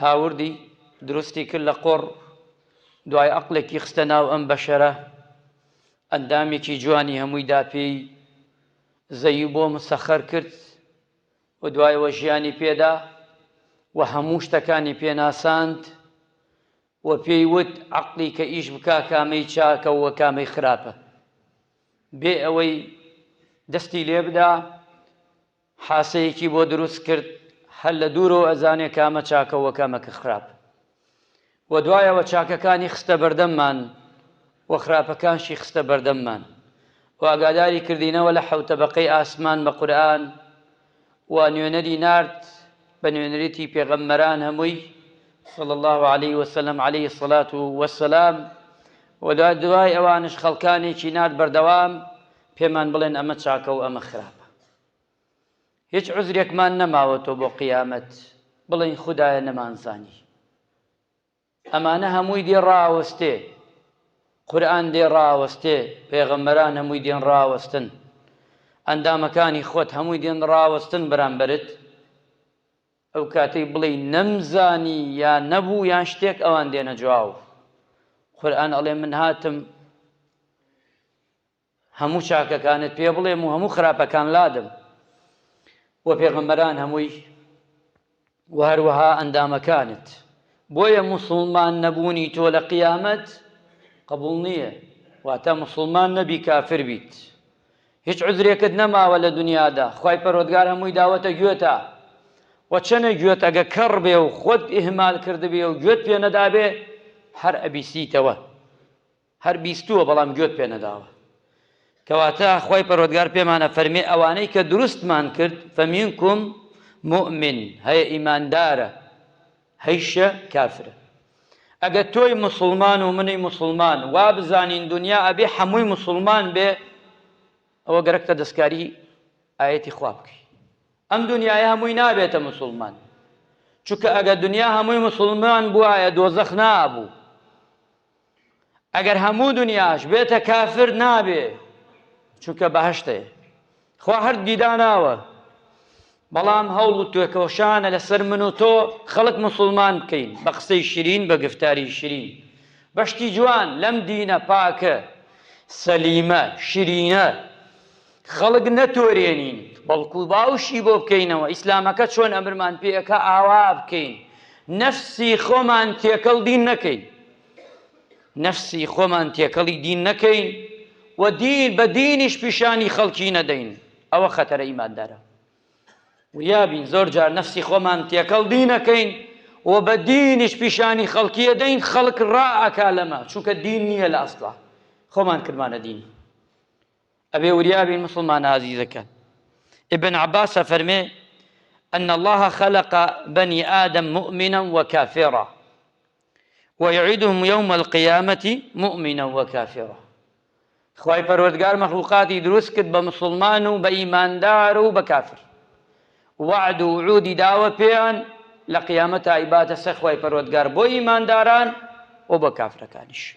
هاوردی دروستی کرد لە قوڕ دوای ئەقڵێکی خستە ناو ئەم بەشەرە ئەندامێکی جوانی هەمووی دا پێی زەوی بۆ مسەخەر کرد و دوایەوە ژیانی پێدا و هەموو شتەکانی پێناساند و پێی وت عقلی کە ئیش بکا کامەی چاکە و کامەی خراپە بێ ئەوەی دەستی لێ بدا حاسەیەکی بۆ دروست کرد هەر لە دوورەوە ئەزانێ کامە چاکە و کامە کە خراپ و دوایەوە چاکەکانی خستە بەردەممان و خراپەکانشی خستە بەردەممان و ئاگاداری کردینەوە لە حەوت تەبەقەی ئاسمان بە قورئان و نوێنەری نارد بە نوێنەریی پێغەمبەران هەمووی صلی الله علیه وسلم علیه الصلاة والسلام و دوای ئەوانش خەڵکانێکی نارد بەردەوام پێمان بڵێن ئەمە چاکە و ئەمە خراپە هیچ عوزرێکمان نەماوەتەوە بۆ قیامەت بڵێین خودایە نەمانزانی ئەمانە هەمووی دێ ڕاوەستێ قورآن دێ ڕاوەستێ پێغەمبەران هەمووی دێن ڕاوەستن ئەندامەکانی خۆت هەمووی دێن ڕاوەستن بەرامبەرت ئەو کاتەی بڵێ نەمزانی یا نەبوو یان شتێک ئەوان دێنە جواب قورآن ئەڵێ من هاتم هەموو چاکەکانت پێ بڵێم و هەموو خراپەکان لادەم و پێغەمبەران هەمووی و هەروەها ئەندامەکانت بۆیە موسڵمان نەبوونی تۆ لە قیامەت قبول نییە واتە موسڵمان نەبی کافر بیت هیچ عزرێکت نەماوە لە دنیادا خی پەرۆدگار هەمووی داوەتە گوێتە و چەنە گوێت ئەگە کەڕ بێ و خۆت ئهمال کردبێ و گوێت پێ نەدابێ هەر ئەبیسیتەوە هەر بیستووە بەڵام گوێت پێ نەداوە کەواتە خوای پەروەردگار پێمان ئەفەرمێ ئەوانەی کە دروستمان کرد فمنکم مۆمن هەیە ئیماندارە هەیشە کافرە ئەگە تۆی مسلمان و منی مسلمان وابزانین دنیا ئەبێ حەمووی مسلمان بێ ئەوە گەرەکتە دەستکاری ئاەتی خوا بکەی ئەم دنیای هەمووی نابێتە مسلمان چونکە ئەگە دنیا هەمووی مسلمان بواە دۆزەخ نابوو ئەگەر هەموو دنیاش بێتە کافر نابێ چونکە بەهشتێ خوا هەر دیداناوە بەڵام هەوڵ و توێکەوەشانە لەسەر من و تۆ خەڵک مسلمان بکەین بە قسەی شرین بە گفتاری شرین بەشتی جوان لەم دینە پاکە سەلیمە شرینە خەڵک نەتۆرێنین بەڵکو باوشی بۆ بکەینەوە ئیسلامەکە چۆن ئەمرمان پێ ئەکا ئاوا بکەین نەفسی خۆمان تێکەڵ دین نەکەین نەفسی خۆمان تێکەڵی دین نەکەین و دین بە دینیش پیشانی خەڵکی نەدەین ئەوە خەتەرە ئیماندارە وریابین زۆر جار نەفسی خۆمان تێکەڵ دینەکەین و بە دینیش پیشانی خەڵکیە دەین خەڵک ڕائکا لەمە چونکە دین نییە لە ئەسڵا خۆمان کردمانە دین ئەبێ وریا بین موسڵمانە ئازیزەکان ابن عباس ئەفەرمێ ان الله خلق بنی آدم مؤمنا وكافرا ويعيدهم يوم القيامة مؤمنا وكافرا خوای پەروەردگار مەخلوقاتی دروست کرد بە مسلمان و بە ئیماندار و بە کافر وعد و عودی داوە پێیان لە قیامەت ئایباتە سەخوای پەروەردگار بۆ ئیمانداران و بۆ کافرەکانیش